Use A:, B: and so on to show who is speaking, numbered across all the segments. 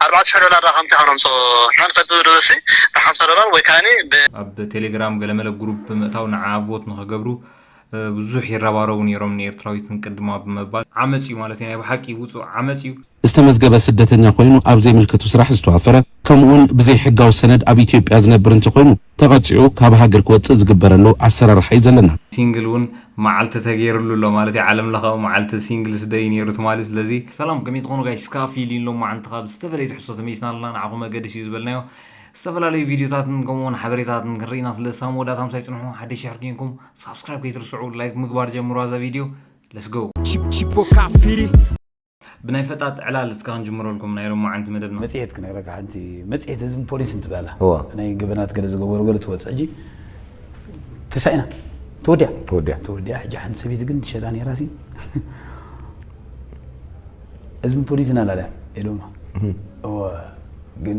A: ኣርባዕተ ሽሕ ዶላር ድኣ ከምቲ ከነምጽኦ መን ፈልጡ ድሩዝሲ ብሓምሳ ዶላር ወይ ከኣኒ ብ። ኣብ ቴሌግራም
B: ገለመለ ጉሩፕ ብምእታው ንዓ ቮት ንክገብሩ ብዙሕ ይረባረቡ ኔሮም ንኤርትራዊት ንቅድማ ብምባል። ዓመጽ እዩ ማለት እዩ ናይ ብሓቂ ውጹእ ዓመጽ እዩ። ዝተመዝገበ
C: ስደተኛ ኮይኑ ኣብ ዘይምልከቱ ስራሕ ዝተዋፈረ ከምኡውን ብዘይ ሕጋዊ ሰነድ ኣብ ኢትዮጵያ ዝነብር እንተኾይኑ ተቐጺዑ ካብ ሃገር ክወጽእ ዝግበረሉ ኣሰራርሓ እዩ ዘለና። ሲንግል ውን
B: ማዓልቲ ተገይርሉ ኣሎ ማለት እዩ ዓለም ለኻዊ ማዓልቲ ሲንግልስ ደይ ነይሩ ትማሊ ስለዚ ሰላም ከመይ ትኾኑ ጋይስ እስካ ፊሊን ሎማዓንቲ ካብ ዝተፈላለዩ ትሕዝቶ ተመይስና ኣለና ንዓኹም መገደሲ እዩ ዝበልናዮ ዝተፈላለዩ ቪድዮታትን ከምኡውን ሓበሬታትን ክንርኢና ስለ ሳብ መወዳእታ ምሳይ ጽንሑ ሓደሽ ሸሕር ኪንኩም ሳብስክራይብ ከይትርስዑ ላይክ ምግባር ጀምሩ ኣዛ ቪድዮ ለስጎ Chip chip o kafiri ብናይ ፈጣጥ ዕላል እስከ ክንጅምረልኩም ናይ ሎማዓንቲ መደብና። መጽሔት ክነግረካ ሓንቲ
D: መጽሔት ህዝብን ፖሊስን ትብሃላ እዋ። ናይ ገበናት ገለ ዝገበሩ ገለ ትወጽእ ሕጂ ተሳኢና ተወዲኣ ተወዲኣ ተወዲኣ ሕጂ ሓንቲ ሰበይቲ ግን ትሸጣ ነይራ ሲ ህዝብን ፖሊስን ኣላልያ ኢሎማ እወ ግን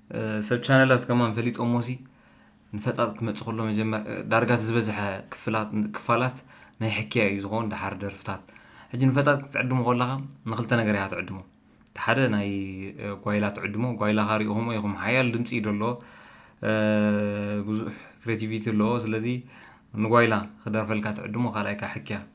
B: ሰብ ቻነላት ከማን ፈሊጦሞሲ ንፈጣጥ ክትመጽእ ከሎ መጀመር ዳርጋ እቲ ዝበዝሐ ክፍላት ክፋላት ናይ ሕክያ እዩ ዝኸውን ደሓር ደርፍታት ሕጂ ንፈጣጥ ክትዕድሞ ከለኻ ንክልተ ነገር ኢኻ ትዕድሞ እቲ ሓደ ናይ ጓይላ ትዕድሞ ጓይላኻ ሪኢኹሞ ኢኹም ሓያል ድምጺ እዩ ደሎ ብዙሕ ክሬቲቪቲ ኣለዎ ስለዚ ንጓይላ ክደርፈልካ ትዕድሞ ካልኣይ ካዓ ሕክያ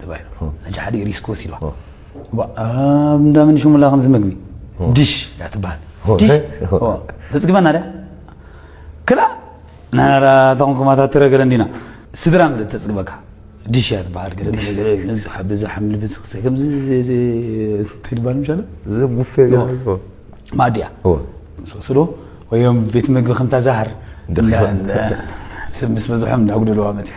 D: ተባሂሉ ሕጂ ሓደ ሪስክ ወሲድዋ ኣብ እንዳ ምንሽሙላ ከምዚ ምግቢ ዲሽ እያ ትበሃል ዲሽ ተፅግበና ድያ ክላ ናናራ እታ ኮንኩማታት ትረገረ እንዲና ስድራ ምለት ተፅግበካ ዲሽ እያ ትበሃል ገለ ብዚ ሓምሊ ብዚ ክሰ ከምዚ እንታይ ትበሃል ምሻለ ዘቡፌ ማዲ እያ ስዶ ወዮም ቤት ምግቢ ከምታ ዛህር ሰብ ምስ በዝሖም እንዳጉደለዋ መፅያ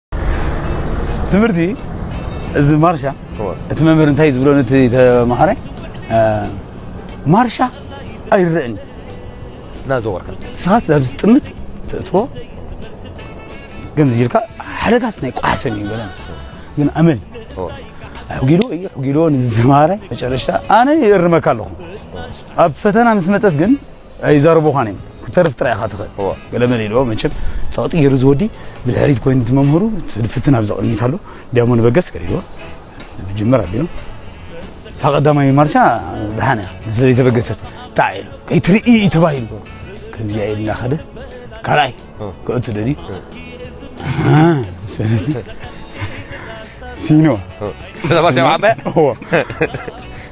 D: ትምህርቲ እዚ ማርሻ እቲ መምህር እንታይ ዝብሎ ነቲ ተምሃረ ማርሻ ኣይረእን እናዘወርካ
E: ሰዓት ናብ
D: ዝጥምት ተእትዎ ገምዚ ኢልካ ሓደጋስ ናይ ቋሕሰን እዩ በለ ግን ኣመል ሕጊዶ እዩ ሕጊዶ ንዝተምሃረ መጨረሽታ ኣነ ይእርመካ ኣለኹ ኣብ ፈተና ምስ መፀት ግን ኣይዛረቡኻን እዮም ክትተርፍ ጥራይ ኢኻ ትኽእል ገለመለ ኢልዎ መቸም ፀቕጢ ገይሩ ዝወዲ ብድሕሪት ኮይኑ እቲ መምህሩ ፍትን ኣብ ዘቕድሚት ኣሎ ዲያሞ ንበገስ ገሪዎ ብጅምር ኣቢሉ እታ ቀዳማይ ማርሻ ድሓን እያ ስለ ዘይተበገሰት ጣዕ ኢሉ ከይትርኢ እዩ ተባሂሉ ከምዚኣ ኢሉ እናኸደ ካልኣይ ክእቱ ደልዩ ሲኖ ስለዚ ማርሻ
E: ዓበያ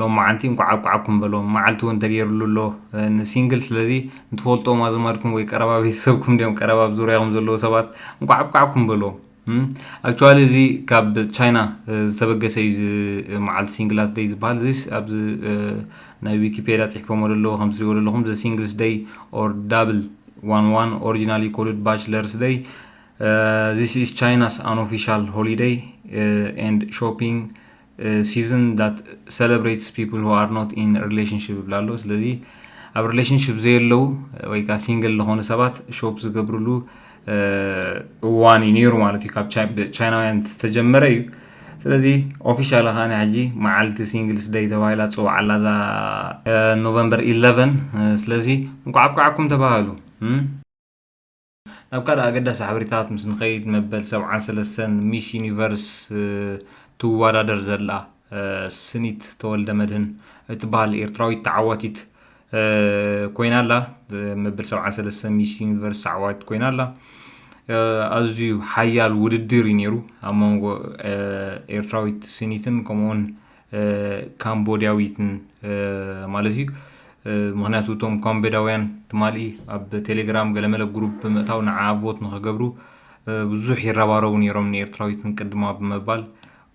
B: ሎማዓንቲ እንኳዕ ኣብቃዓኩም በሎም ማዓልቲ ውን ተገይርሉ ኣሎ ን ሲንግል ስለዚ ንትፈልጥዎም ኣዝማድኩም ወይ ቀረባ ቤተሰብኩም ድዮም ቀረባ ኣብ ዙርያኩም ዘለዉ ሰባት እንኳዕ ኣብቃዓኩም በሎም ኣክቹዋሊ እዚ ካብ ቻይና ዝተበገሰ እዩ እዚ መዓልቲ ሲንግላት ደይ ዝበሃል እዚስ ኣብዚ ናይ ዊኪፔድያ ጽሒፎሞ ዘለዉ ከም ትሪእዎ ዘለኹም ዘ ሲንግልስ ደይ ኦር ዳብል ዋን ዋን ኦሪጂናሊ ኮልድ ባችለርስ ደይ ዚስ ኢስ ቻይናስ ኣን ኦፊሻል ሆሊደይ ኤንድ ሾፒንግ ሲዝን ዳት ሰለብሬትስ ፒፕል ሁ ኣር ኖት ኢን ሪሌሽንሽፕ ይብላ ኣሎ ስለዚ ኣብ ሪሌሽንሽፕ ዘየለው ወይ ከዓ ሲንግል ዝኾኑ ሰባት ሾፕ ዝገብርሉ እዋን እዩ ነይሩ ማለት እዩ ካብ ቻይናውያን ዝተጀመረ እዩ ስለዚ ኦፊሻል ከዓኒ ሕጂ መዓልቲ ሲንግልስ ደይ ተባሂላ ፅዋዕ ኣላ እዛ ኖቨምበር 11 ስለዚ እንኳዕ ኣብቃዓኩም ተባሃሉ ናብ ካልእ ኣገዳሲ ሓበሬታታት ምስ ንኸይድ መበል ሰብዓን ሰለስተን ሚስ ዩኒቨርስ ትወዳደር ዘላ ስኒት ተወልደመድህን እትበሃል ኤርትራዊት ተዓዋቲት ኮይና ኣላ። መበል ሰብዓን ሰለስተን ሚስ ዩኒቨርስ ተዓዋቲት ኮይና ኣላ። ኣዝዩ ሓያል ውድድር እዩ ነይሩ ኣብ መንጎ ኤርትራዊት ስኒትን ከምኡውን ካምቦድያዊትን ማለት እዩ ምክንያቱ እቶም ካምቦዳውያን ትማሊ ኣብ ቴሌግራም ገለመለ ግሩፕ ብምእታው ንዓ ቮት ንክገብሩ ብዙሕ ይረባረቡ ነይሮም ንኤርትራዊትን ቅድማ ብምባል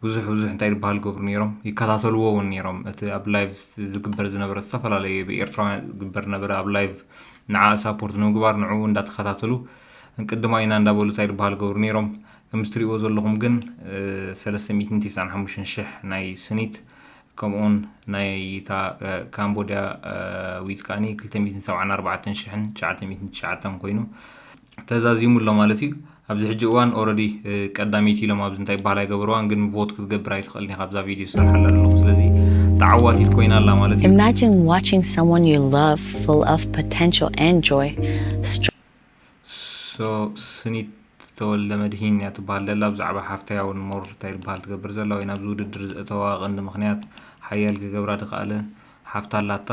B: ብዙሕ ብዙሕ እንታይ ዝበሃል ገብሩ ነይሮም ይከታተልዎ እውን ነይሮም እቲ ኣብ ላይቭ ዝግበር ዝነበረ ዝተፈላለየ ብኤርትራውያን ዝግበር ነበረ ኣብ ላይቭ ንዓ ሳፖርት ንምግባር ንዕኡ እንዳተኸታተሉ ቅድማ ኢና እንዳበሉ እንታይ ዝበሃል ገብሩ ነይሮም ከምዚ ትሪእዎ ዘለኹም ግን ሰለስተ ሚእትን ትስዓን ሓሙሽተን ሽሕ ናይ ስኒት ከምኡውን ናይ እታ ካምቦድያ ዊት ከዓኒ ክልተ ሚእትን ሰብዓን ኣርባዕተን ሽሕን ትሽዓተ ሚእትን ትሽዓተን ኮይኑ ተዛዚሙ ኣሎ ማለት እዩ ኣብዚ ሕጂ እዋን ኦረዲ ቀዳመይቲ ኢሎም ኣብዚ እንታይ በሃል ኣይገበርዋን ግን ቮት ክትገብር ኣይትኽእልን ኢኻ ኣብዛ ቪድዮ ዝሰርሓላ ኣለኹ ስለዚ ተዓዋቲት ኮይና ኣላ ማለት እዩ Imagine watching
F: someone you love full of potential and joy
B: ሶስኒት ተወልደመድሂን እያ ትበሃል ዘላ ብዛዕባ ሓፍተይ ኣውን ሞር እንታይ ትበሃል ትገብር ዘላ ወይ ናብዚ ውድድር ዘእተዋ ቀንዲ ምክንያት ሓያል ክገብራ ድከኣለ ሓፍታ ኣላታ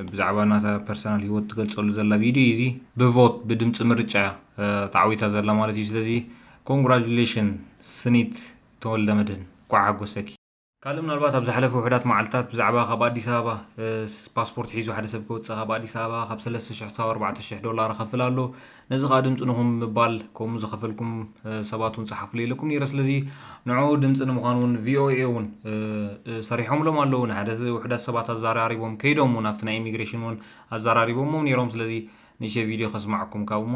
B: ብዛዕባ ናታ ፐርሰናል ሂወት ትገልጸሉ ዘላ ቪድዮ እዚ ብቮት ብድምፂ ምርጫ ተዓዊታ ዘላ ማለት እዩ ስለዚ ኮንግራጁሌሽን ስኒት ተወልደመድህን ኳዕ ሓጎሰኪ ካልእ ምናልባት ኣብ ዝሓለፈ ውሕዳት መዓልትታት ብዛዕባ ካብ ኣዲስ ኣበባ ፓስፖርት ሒዙ ሓደ ሰብ ክወፅእ ካብ ኣዲስ ኣበባ ካብ 3,000 ክሳብ 4,000 ዶላር ኸፍል ኣሎ ነዚ ከዓ ድምፂ ንኹም ምባል ከምኡ ዝኸፈልኩም ሰባት እውን ፀሓፍሉ ኢለኩም ነይረ ስለዚ ንዕኡ ድምፂ ንምዃን እውን ቪኦኤ እውን ሰሪሖምሎም ኣለዉ ንሓደ ውሕዳት ሰባት ኣዘራሪቦም ከይዶም እውን ኣብቲ ናይ ኢሚግሬሽን እውን ኣዘራሪቦሞም ነይሮም ስለዚ ንእሸ ቪድዮ ከስማዕኩም ካብ እሞ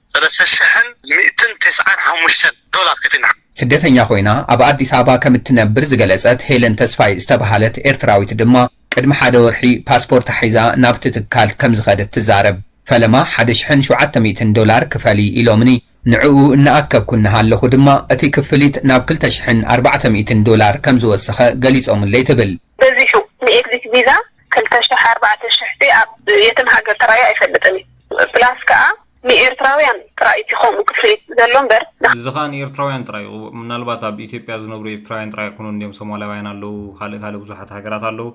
A: ሰለስተ ሽሕን ሚእትን ተስዓን ሓሙሽተን ዶላር ከፊልና። ስደተኛ ኮይና
G: ኣብ ኣዲስ ኣበባ ከም እትነብር ዝገለጸት ሄለን ተስፋይ ዝተበሃለት ኤርትራዊት ድማ ቅድሚ ሓደ ወርሒ ፓስፖርታ ሒዛ ናብቲ ትካል ከም ዝኸደት ትዛረብ። ፈለማ ሓደ ሽሕን ሸውዓተ ሚእትን ዶላር ክፈሊ ኢሎምኒ። ንዕኡ እናኣከብኩ እናሃለኹ ድማ እቲ ክፍሊት ናብ ክልተ ሽሕን ኣርባዕተ ሚእትን ዶላር ከም ዝወሰኸ ገሊጾምለይ ትብል። በዚሑ ንኤግዚት
H: ቪዛ ክልተ ሽሕ ኣርባዕተ ሽሕ ሲ ኣብ የትም ሃገር ተራእዩ ኣይፈልጥን እዩ ፕላስ ከኣ ንኤርትራውያን ጥራይ እቲ ከምኡ ክፍሊት ዘሎ እምበር ን እዚ ከኣ ንኤርትራውያን
B: ጥራይ እዩ ምናልባት ኣብ ኢትዮጵያ ዝነብሩ ኤርትራውያን ጥራይ ኣይኮኑን እንድዮም ሶማላውያን ኣለዉ ካልእ ካልእ ብዙሓት ሃገራት ኣለዉ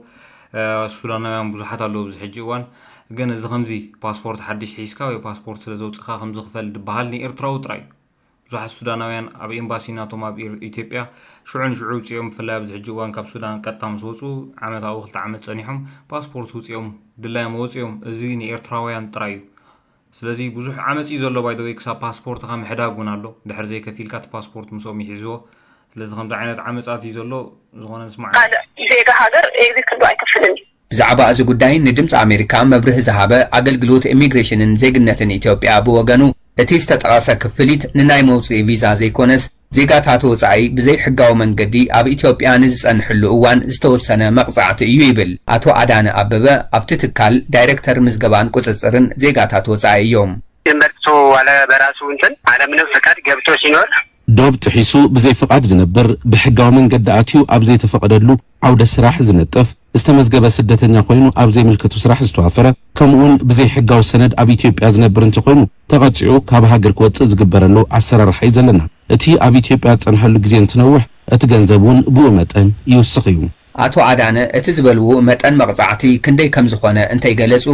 B: ሱዳናውያን ብዙሓት ኣለዉ ኣብዚ ሕጂ እዋን ግን እዚ ከምዚ ፓስፖርት ሓድሽ ሒዝካ ወይ ፓስፖርት ስለ ዘውጽእካ ከምዚ ክፈል ድበሃል ንኤርትራዊ ጥራይ እዩ ብዙሓት ሱዳናውያን ኣብ ኤምባሲ ናቶም ኣብ ኢትዮጵያ ሽዑ ንሽዑ ውፅኦም ብፍላይ ኣብዚ ሕጂ እዋን ካብ ሱዳን ቀጥታ ምስ ወፁ ዓመታዊ ክልተ ዓመት ፀኒሖም ፓስፖርት ውፅኦም ድላዮም ወፅኦም እዚ ንኤርትራውያን ጥራይ እዩ ስለዚ ብዙሕ ዓመፅ እዩ ዘሎ ባይ ወይ ክሳብ ፓስፖርትኻ ምሕዳግ እውን ኣሎ ድሕር ዘይከፊልካ እቲ ፓስፖርት ምስኦም ይሕዝዎ ስለዚ ከምዚ ዓይነት ዓመፃት እዩ ዘሎ ዝኾነ ንስማዕ ካልእ ዜጋ ሃገር
H: ኤግዚት ክብሎ ኣይክፍልን እዩ ብዛዕባ እዚ ጉዳይ
G: ንድምጺ ኣሜሪካ መብርሂ ዝሃበ ኣገልግሎት ኢሚግሬሽንን ዜግነትን ኢትዮጵያ ብወገኑ፣ እቲ ዝተጠቐሰ ክፍሊት ንናይ መውጽኢ ቪዛ ዘይኮነስ፣ ዜጋታት ወጻኢ ብዘይሕጋዊ መንገዲ ኣብ ኢትዮጵያ ንዝጸንሕሉ እዋን ዝተወሰነ መቕጻዕቲ እዩ ይብል። ኣቶ ኣዳነ ኣበበ ኣብቲ ትካል ዳይረክተር ምዝገባን ቁጽጽርን ዜጋታት ወጻኢ እዮም።
I: ጀመርት ሰው ዋለ በራሱ
G: እንትን
I: ዓለምንም ፍቃድ ገብቶ
G: ሲኖር
I: ዶብ
C: ጥሒሱ ብዘይ ፍቓድ ዝነብር፣ ብሕጋዊ መንገዲ ኣትዩ ኣብ ዘይተፈቐደሉ ዓውደ ስራሕ ዝነጥፍ፣ ዝተመዝገበ ስደተኛ ኮይኑ ኣብ ዘይምልከቱ ስራሕ ዝተዋፈረ፣ ከምኡ'ውን ብዘይ ሕጋዊ ሰነድ ኣብ ኢትዮጵያ ዝነብር እንተኾይኑ ተቐጺዑ ካብ ሃገር ክወጽእ ዝግበረሉ ኣሰራርሓ እዩ ዘለና። እቲ ኣብ ኢትዮጵያ ዝጸንሐሉ ግዜ እንትነውሕ እቲ ገንዘብ እውን ብኡ መጠን ይውስኽ እዩ። ኣቶ ኣዳነ
G: እቲ ዝበልዎ መጠን መቕጻዕቲ ክንደይ ከምዝኾነ እንተይገለጹ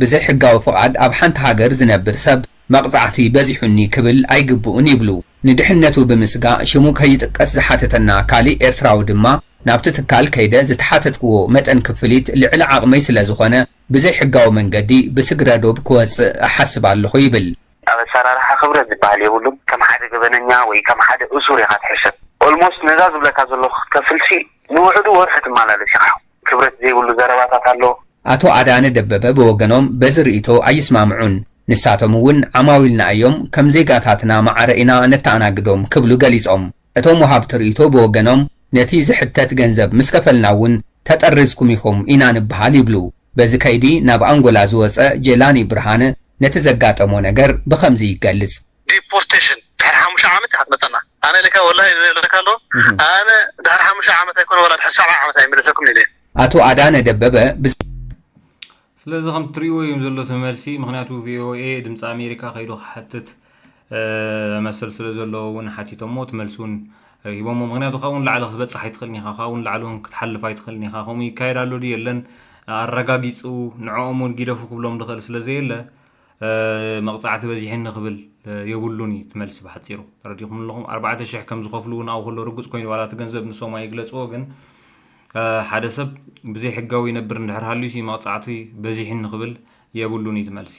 G: ብዘይሕጋዊ ፍቓድ ኣብ ሓንቲ ሃገር ዝነብር ሰብ መቕጻዕቲ በዚሑኒ ክብል ኣይግብኡን ይብሉ። ንድሕነቱ ብምስጋእ ሽሙ ከይጥቀስ ዝሓተተና ካሊእ ኤርትራዊ ድማ ናብቲ ትካል ከይደ ዝተሓተትክዎ መጠን ክፍሊት ልዕሊ ዓቕመይ ስለዝኾነ ብዘይሕጋዊ መንገዲ ብስግረዶብ ክወጽእ እሓስብ ኣለኹ ይብል። ኣብ ኣሰራርሓ
A: ክብረት ዝበሃል የብሉን ከም ሓደ ገበነኛ ወይ ከም ሓደ እሱር ኢኻ ትሕሰብ። Almost ነዛ ዝብለካ ዘለኹ ክትከፍልሲ ንውሕዱ ወርሒ ትመላለስ ኢኻ። ክብረት ዘይብሉ ዘረባታት ኣሎ። ኣቶ ኣዳነ
G: ደበበ ብወገኖም በዚ ርኢቶ ኣይስማምዑን። ንሳቶም እውን ዓማዊልና እዮም፣ ከም ዜጋታትና ማዕረ ኢና ነተኣናግዶም ክብሉ ገሊፆም። እቶም ወሃብቲ ርኢቶ ብወገኖም ነቲ ዝሕተት ገንዘብ ምስ ከፈልና እውን ተጠሪዝኩም ኢኹም ኢና ንበሃል ይብሉ። በዚ ከይዲ ናብ ኣንጎላ ዝወፀ ጄላኒ ብርሃነ ነቲ ዘጋጠሞ ነገር ብኸምዚ ይገልፅ።
A: ዲፖርተሽን ድሕሪ ሓሙሽተ ዓመት ኢካ ትመጸና ኣነ ኢለካ ወላሂ ዝብለካ ኣሎ ኣነ ድሕሪ ሓሙሽተ ዓመት ኣይኮነ ወላ
G: ድሕሪ ሰብዓ ዓመት ኣይምለሰኩምን ኢለ ኣቶ ኣዳነ ደበበ
B: ብዛዕባ ስለዚ ከም ትሪእዎ እዮም ዘሎ እቲ መልሲ ምክንያቱ ቪኦኤ ድምፂ ኣሜሪካ ከይዱ ክሓትት መሰል ስለ ዘለዎ እውን ሓቲቶሞ እቲ መልሲ እውን ሂቦሞ ምክንያቱ ካብኡ ንላዕሊ ክትበፅሕ ኣይትኽእልን ኢኻ ካብኡ ንላዕሊ እውን ክትሓልፍ ኣይትኽእልን ኢኻ ከምኡ ይካየድ ኣሎ ድዩ የለን ኣረጋጊፁ ንዕኦም እውን ጊደፉ ክብሎም ዝኽእል ስለ ዘየለ መቕጻዕቲ በዚሕኒ ክብል የብሉን እዩ እቲ መልሲ ብሓጺሩ። ተረዲእኩምኒ ኣለኹም? ኣርባዕተ ሽሕ ከም ዝኸፍሉ እውን ኣብኡ ከሎ ርጉጽ ኮይኑ ዋላ እቲ ገንዘብ ንሶም ኣይግለጽዎ ግን ሓደ ሰብ ብዘይ ሕጋዊ ይነብር እንድሕር ሃልዩሲ መቕጻዕቲ በዚሕኒ ክብል የብሉን እዩ እቲ መልሲ።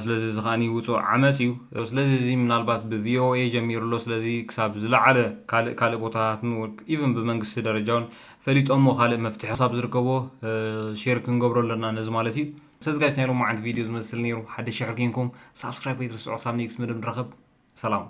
B: ስለዚ እዚ ከኣ ውጹእ ዓመጽ እዩ። ስለዚ እዚ ምናልባት ብቪኦኤ ጀሚሩ ኣሎ ስለዚ ክሳብ ዝለዓለ ካልእ ካልእ ቦታታትን ኢቭን ብመንግስቲ ደረጃ እውን ፈሊጦሞ ካልእ መፍትሒ ክሳብ ዝርከቦ ሼር ክንገብሮ ኣለና ነዚ ማለት እዩ። ሰዝጋይስ ናይ ሎማዓንቲ ቪድዮ ዝመስል ነይሩ ሓደሽ ሽሕ ርኪንኩም ሳብስክራይብ ከይትርስዑ ክሳብ ኔክስት መደብ ንራኸብ ሰላም።